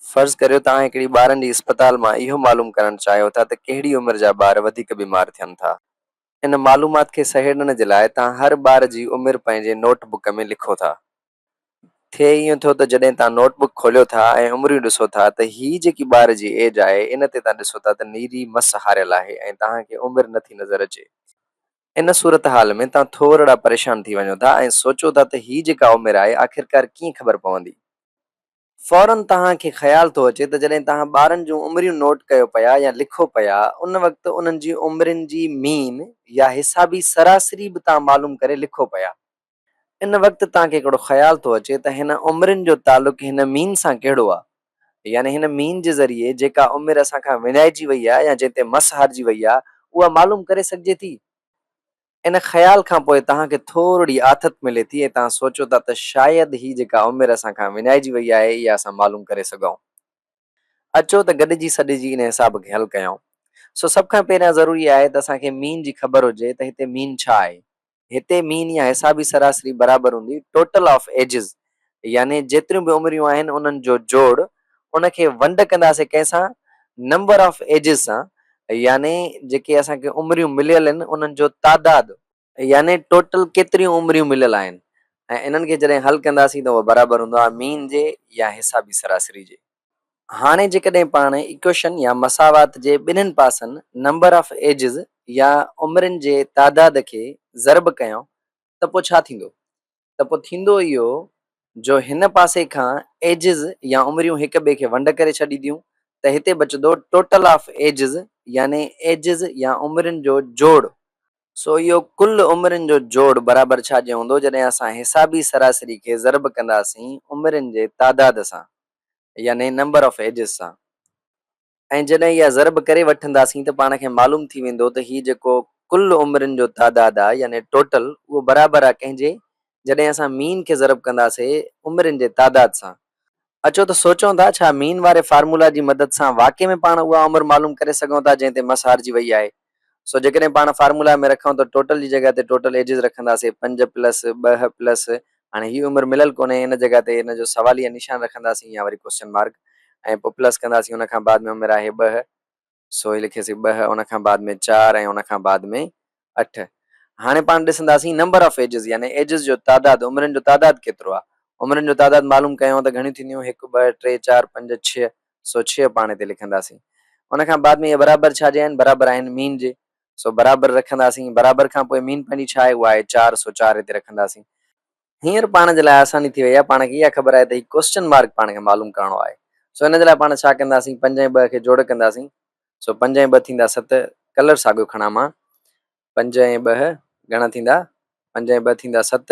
فرض ڪريو توهان هڪڙي ٻارن جي اسپتال مان اهو معلوم ڪرڻ چاهيو ٿا ته ڪهڙي عمر جا ٻار وڌيڪ بيمار ٿين ٿا. ان معلومات کي سهيڙڻ جي لاء توهان هر ٻار جي عمر پنهنجي نوٽ بڪ ۾ لکو ٿا. ٿئي ائين ٿو ته جڏهن توهان نوٽ بڪ کوليو ٿا ۽ عمريون ڏسو ٿا ته هي جيڪي ٻار جي ايج آهي ان تي توهان ڏسو ٿا ته نيري مس هاريل آهي ۽ توهان کي عمر نه ٿي نظر اچي. ان صورتحال ۾ توهان ٿورڙا پريشان ٿي وڃو ٿا ۽ سوچو ٿا ته هي جيڪا عمر آهي آخرڪار ڪيئن خبر پوندي. فوراً توهان کي خيال ٿو اچي ته جڏهن توهان ٻارن جون عمريون نوٽ ڪيو پيا يا لکو پيا، ان وقت انهن جي عمرين جي مين يا حسابي سراسري به توهان معلوم ڪري لکو پيا. ان وقت توهان کي هڪڙو خيال ٿو اچي ته هن عمرين جو تعلق هن مين سان ڪهڙو آ؟ يعني هن مين جي ذريعي جيڪا عمر اسان کان وڃائجي وئي آ يا جنهن تي مس هارجي وئي آ، اها معلوم ڪري سگهجي ٿي؟ ان خيال کان پوء توهان کي ٿورڙي آٿت ملي ٿي ۽ توهان سوچو ٿا ته شايد هي جيڪا عمر اسان کان وڃائجي وئي آهي اها اسان معلوم ڪري سگهئون. اچو ته گڏجي سڏجي ان حساب کي حل ڪيائون. سو سڀ کان پهريان ضروري آهي ته اسان کي مين جي خبر هجي ته هتي مين ڇا آهي؟ هتي مين يا حسابي سراسري برابر هوندي Total of Ages يعني جيتريون به عمريون آهن انهن جو جوڙ ان کي ونڊ ڪنداسين ڪنهن سان نمبر آف ايجز سان يعني جيڪي اسان کي عمريون مليل آهن انهن جو تعداد يعني ٽوٽل ڪيتريون عمريون مليل آهن ۽ انهن کي جڏهن حل ڪنداسين ته اهو برابر هوندو آهي مين جي يا حسابي سراسري جي. هاڻي جيڪڏهن پاڻ ايڪويشن يا مساوات جي ٻنهن پاسن نمبر آف ايجز يا عمرين جي تعداد کي ضرب ڪيون ته پوء ڇا ٿيندو؟ ته پوء ٿيندو اهو جو هن پاسي کان ايجز يا عمريون هڪ ٻئي کي ونڊ ڪري ڇڏينديون ته هتي بچندو ٽوٽل آف ايجز يعني ايجز يا عمرين جو جوڙ. سو اهو ڪل عمرين جو جوڙ برابر ڇا جي هوندو جڏهن اسان حسابي سراسري کي ضرب ڪنداسين عمرين جي تعداد سان يعني نمبر آف ايجز سان. ۽ جڏهن اها ضرب ڪري وٺنداسين ته پاڻ کي معلوم ٿي ويندو ته هي جيڪو ڪل عمرين جو تعداد آ يعني ٽوٽل اهو برابر آ ڪنهن جي جڏهن اسان مين کي ضرب ڪنداسي عمرين جي تعداد سان. اچو ته سوچون ٿا ڇا مين واري فارمولا جي مدد سان واقعي ۾ پاڻ اها عمر معلوم ڪري سگهون ٿا جنهن تي مس هارجي وئي آهي. سو جيڪڏهن پاڻ فارمولا ۾ رکون ته ٽوٽل جي جڳهه تي ٽوٽل ايجز رکنداسين پنج پلس ٻه پلس هاڻي هي عمر مليل ڪونهي ان جڳهه تي ان جو سواليه نشان رکنداسين يا وري ڪوسچن مارڪ ۽ پوء پلس ڪنداسين ان کان بعد ۾ عمر آهي ٻه سو هي لکيسين ٻه ان کان بعد ۾ چار ۽ ان کان بعد ۾ اٺ هاڻي پاڻ ڏسنداسين نمبر آف ايجز يعني ايجز جو تعداد عمرن جو تعداد ڪيترو آهي عمرن جو تعداد معلوم ڪيون ته گهڻيون ٿينديون هڪ ٻه ٽي چار پنج ڇهه سو ڇيهه پاڻي تي لکنداسين. ان کان بعد ۾ اهي برابر ڇا جي آهن؟ برابر آهن مين جي، سو برابر رکنداسين. برابر کان پوء مين پنهنجي ڇا آهي؟ اها آهي چار، سو چار هتي رکنداسين. هينئر پاڻ جي لاء آساني ٿي وئي آهي، پاڻ کي اها خبر آهي ته هي ڪوئسچن مارڪ پاڻ کي معلوم ڪرڻو آهي، سو ان جي لاء پاڻ ڇا ڪنداسين؟ پنج ۽ ٻه کي جوڙ ڪنداسين، سو پنج ۽ ٻه ٿيندا ست، ڪلر ساڳيو کڻان مان، پنج ۽ ٻه گهڻا ٿيندا؟ پنج ۽ ٻه ٿيندا ست،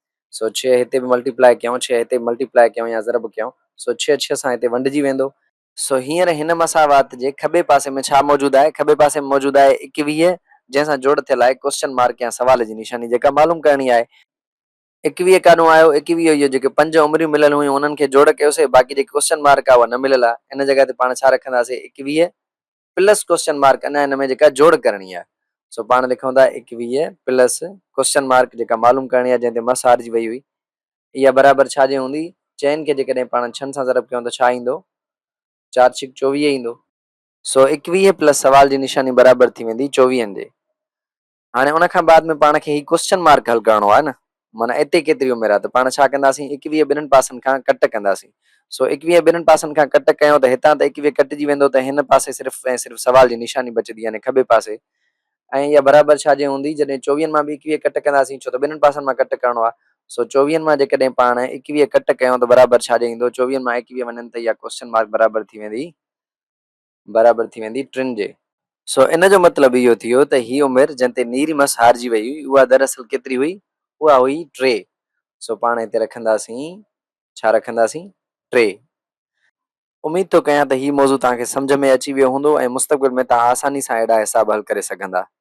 سو ڇهه هتي به ملٽي پلائي ڪيون، ڇهه هتي به ملٽي پلائي ڪيون يا ضرب ڪيون، سو ڇهه ڇهه سان هتي ونڊجي ويندو. سو هينئر هن مساوات جي کٻي پاسي ۾ ڇا موجود آهي؟ کٻي پاسي ۾ موجود آهي ايڪويهه، جنهن سان جوڙ ٿيل آهي ڪوسچن مارڪ يا سوال جي نشاني، جيڪا معلوم ڪرڻي آهي. ايڪويهه ڪاڏهون آيو؟ ايڪويهه اهو جيڪي پنج عمريون مليل هيون انهن کي جوڙ ڪيوسي، باقي جيڪي ڪوسچن مارڪ آهي اها نه مليل آهي، ان جڳهه تي پاڻ ڇا رکنداسي؟ ايڪويهه پلس ڪوئسچن مارڪ اڃا هن ۾ جيڪا جوڙ ڪرڻي آهي سو پاڻ لکون ٿا ايڪويهه پلس ڪوئسچن مارڪ جيڪا معلوم ڪرڻي آهي جنهن تي مس هارجي وئي هئي اها برابر ڇا جي هوندي چئن کي جيڪڏهن پاڻ ڇهن سان ضرب ڪيون ته ڇا ايندو چار ڇڪ چوويهه ايندو. سو ايڪويهه پلس سوال جي نشاني برابر ٿي ويندي چوويهن جي هاڻي ان کان بعد ۾ پاڻ کي هي ڪوسچن مارڪ حل ڪرڻو آهي نه معنيٰ اتي ڪيتري عمر آهي ته پاڻ ڇا ڪنداسين ايڪويهه ٻنهن پاسن کان ڪٽ ڪنداسين سو ايڪويهه ٻنهن پاسن کان ڪٽ ڪيون ته هتان ته ايڪويهه ڪٽجي ويندو ته هن پاسي صرف ۽ صرف سوال جي نشاني بچندي يعني کٻي پاسي ۽ اها برابر ڇا جي هوندي جڏهن چوويهن مان به ايڪويهه ڪٽ ڪنداسين ڇو ته ٻنهن پاسن مان ڪٽ ڪرڻو آهي سو چوويهن مان جيڪڏهن پاڻ ايڪويهه ڪٽ ڪيون ته برابر ڇا جي ايندو چوويهن مان ايڪويهه وڃن ته اها ڪوسچن مارڪ برابر ٿي ويندي. برابر ٿي ويندي ٽن جي. سو ان جو مطلب اهو ٿيو ته هي عمر جنهن تي نيري مس هارجي وئي هئي اها دراصل ڪيتري هئي؟ اها هئي ٽي. سو پاڻ هتي رکنداسين ڇا رکنداسين؟ ٽي. اميد ٿو ڪيان ته هي موضوع توهان کي سمجهه ۾ اچي ويو هوندو ۽ مستقبل ۾ توهان آساني سان اهڙا حساب حل ڪري سگهندا.